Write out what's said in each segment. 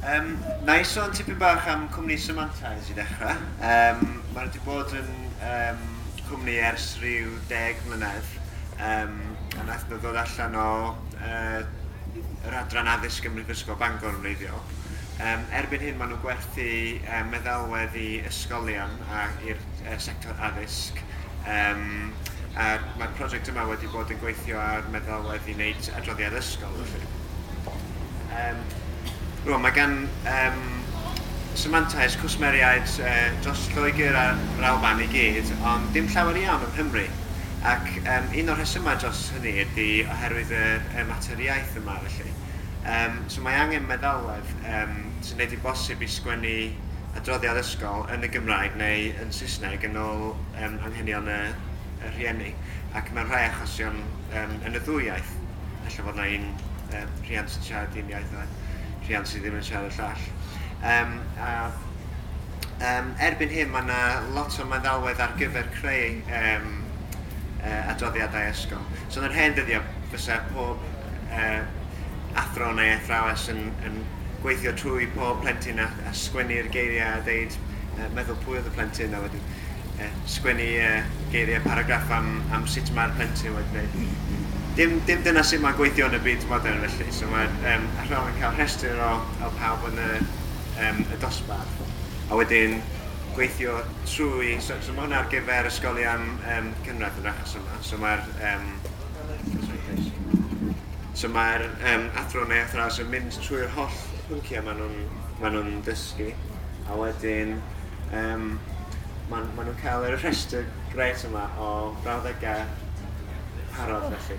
Yym, na i sôn tipyn bach am cwmni Semantize i ddechrau. Yym, mae nhw wedi bod yn yym, cwmni ers rhyw deg mlynedd, yym, a wnaeth nhw ddod allan o yy, yr adran addysg ym Mhrifysgol Bangor yn wreiddiol. Yym, erbyn hyn maen nhw'n gwerthu yy, meddalwedd i ysgolion a i'r yy, sector addysg, yym, a mae'r prosiect yma wedi bod yn gweithio ar meddalwedd i wneud adroddiad ysgol felly. Yym, rwan, mae gan yym Symantais cwsmeriaid yy dros Lloegr a'r Alban i gyd, ond dim llawer iawn yng Nghymru. Ac yym un o'r rhesymau dros hynny ydy oherwydd y y mater iaith yma, felly. Yym, so mae angen meddalwedd yym sy'n gwneud hi'n bosib i sgwennu adroddiad ysgol yn y Gymraeg neu yn Saesneg yn ôl yym anghenion y y rhieni, ac mewn rhai achosion yym yn y ddwy iaith. Ella fod 'na un yym rhiant yn siarad un iaith a rhiant sydd ddim yn siarad y llall. Yym a yym erbyn hyn mae 'na lot o meddalwedd ar gyfer creu yym yy adroddiadau ysgol. So yn yr hen ddyddiau fysa pob yy athro neu athrawes yn yn gweithio trwy pob plentyn a a sgwennu'r geiriau a deud yy meddwl pwy oedd y plentyn a wedyn sgwennu geiriau paragraff am am sut mae'r plentyn wedi gwneud. Dim, dim dyna sut mae'n gweithio yn y byd modern felly. So mae'r um, athrawon yn cael rhestr o, o pawb yn y, um, y dosbarth. A wedyn gweithio trwy... So, so mae hwnna ar gyfer ysgolion um, cynradd yn achos yma. So mae'r... Um, so mae'r um, athro neu athrawes yn mynd trwy'r holl pynciau maen nhw'n ma nhw dysgu. A wedyn yym ma' ma' nhw'n cael y rhestr grêt yma o frawddegau parod felly.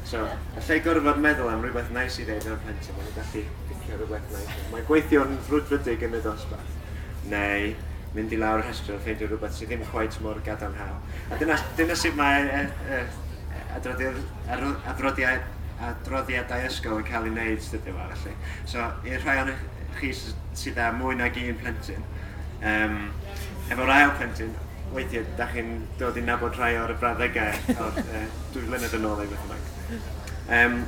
So, y lle gorfod meddwl am rywbeth neis i ddeud ar y plentyn, maen nhw'n gallu picio rywbeth neis. Mae gweithio'n frwdfrydig yn y dosbarth, neu mynd i lawr y rhestr a ffeindio rhywbeth sydd ddim cweit mor gadarnhaol. A dyna, dyna sut mae e, e, adroddiad, adroddiad, adroddiadau ysgol yn cael ei wneud dyddiau yma felly. So, i'r rhai o'n chi sydd â mwy nag un plentyn. Yym, efo'r ail plentyn, weithiau, da chi'n dod i nabod rhai o'r brawddegau o'r uh, dwy flynedd yn ôl ei beth yma. Um,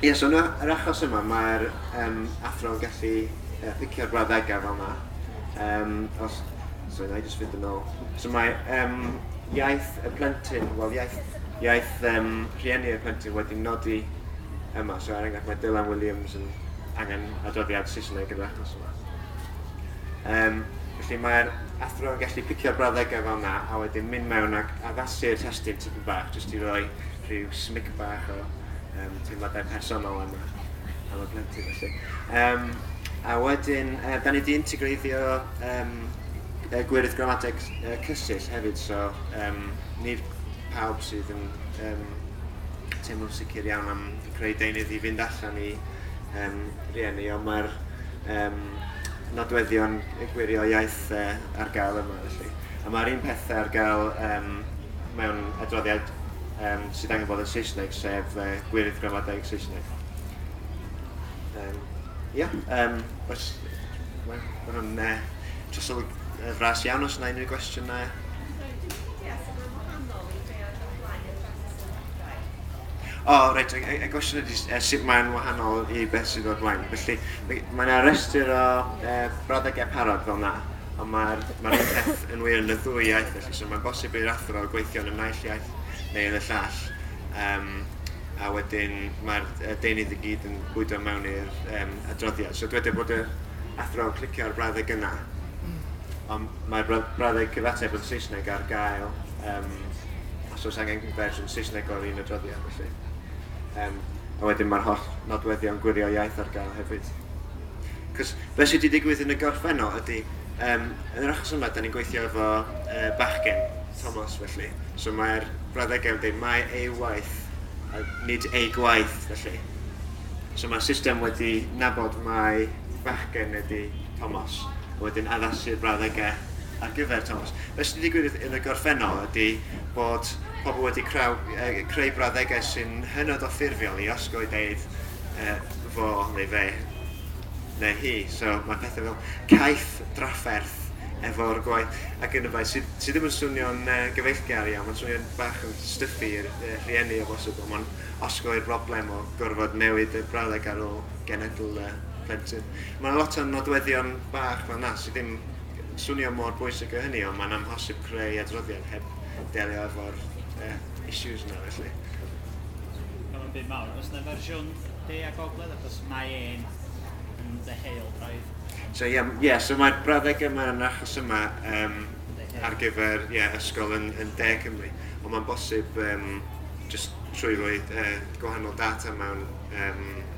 Ie, yeah, so yna, yr achos yma, mae'r um, athro yn gallu uh, picio'r brawddegau fel yma. Um, os, so yna i jyst fynd yn ôl. So mae um, iaith y plentyn, wel iaith, iaith um, rhieni y plentyn wedi nodi yma. So er enghraifft mae Dylan Williams yn angen adroddiad Saesneg yn yr achos yma. Um, felly mae'r athro yn gallu picio'r brawddegau fel yna a wedyn mynd mewn ac addasu'r testyn tipyn bach jyst i roi rhyw smic bach o um, teimladau personol yma am y plentyn felly. Um, a wedyn, uh, da ni wedi integreiddio um, uh, gwirth gramadeg uh, cysill hefyd, so um, nid pawb sydd yn um, teimlo'n sicr iawn am creu deunydd i fynd allan i um, rieni, ond mae'r um, nodweddion gwirio iaith uh, ar gael yma. Felly. A mae'r un pethau ar gael um, mewn adroddiad um, sydd angen bod yn Saesneg, sef uh, gwirydd gramadeg Saesneg. Um, ia, um, oes, mae hwnna'n uh, trosolwg uh, fras iawn os yna unrhyw gwestiynau. O reit, y y y gwestiwn ydi s- yy sut mae'n wahanol i beth sydd o'r blaen. Felly mi- mae 'na restr o yy brawddegau parod fel 'na, ond mae'r mae'r un peth yn wir yn y ddwy iaith felly. So mae'n bosib i'r athro gweithio yn y naill iaith neu yn y llall, yym a wedyn mae'r yy deunydd i gyd yn bwydo mewn i'r yym adroddiad. So dyweda bod yr athro yn clicio ar y brawddeg yna, ond mae'r brawd- brawddeg cyfateb yn Saesneg ar gael. Yym os oes angen fersiwn Saesneg o'r un adroddiad felly. Yym a wedyn mae'r holl nodweddion gwirio iaith ar gael hefyd. Cos be sydd wedi digwydd yn y gorffennol ydy, um, yn yr achos yma, da ni'n gweithio efo uh, bachgen, Thomas, felly. So mae'r brawddegau yn dweud, mae ei waith, a nid ei gwaith, felly. So mae'r system wedi nabod mae bachgen ydy Thomas, a wedyn addasu'r brawddegau ar gyfer Thomas. Be sy'n digwydd yn y gorffennol ydy bod pobl wedi creu, creu brawddegau sy'n hynod o ffurfiol i osgoi deud uh, fo neu fe neu hi. So mae pethau fel caeth drafferth efo'r gwaith ac yn y blaen sydd, sy ddim yn swnio'n uh, gyfeillgar iawn, mae'n swnio'n bach yn styffu i'r uh, rhieni o bosib, ond mae'n osgoi'r broblem o gorfod newid y brawddeg ar ôl genedl uh, plentyn. Mae yna lot o nodweddion bach fel yna sydd ddim Swnio mor bwysig a hynny ond mae'n amhosib creu adroddiad heb delio efo'r uh, issues yna felly. Cael yn byd mawr. Os yna fersiwn de a gogledd achos mae e'n yn ddeheol braidd. So yeah, yeah, so mae'r brawddegau yma yn achos yma um, ar gyfer yeah, ysgol yn, yn de Cymru. Ond mae'n bosib um, just trwy roi uh, gwahanol data mewn um,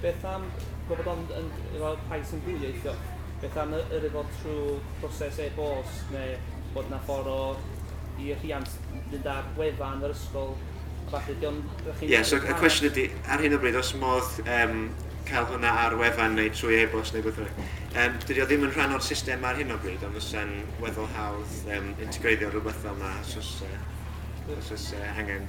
Beth am gofod ond yn efo rhai sy'n dwyieithog? Beth am yy yr efo trw proses e-bost ne bod na ffor o i y rhiant fynd ar wefan yr ysgol a ballu diom dych chi'n... Ie so y cwestiwn ydi ar hyn o bryd os modd yym cael hwnna ar wefan neu trwy e-bost neu beth bynnag. Yym dydi o ddim yn rhan o'r system ar hyn o bryd ond fysa'n weddol hawdd yym integreiddio rwbeth fel na os os yy os os yy angen.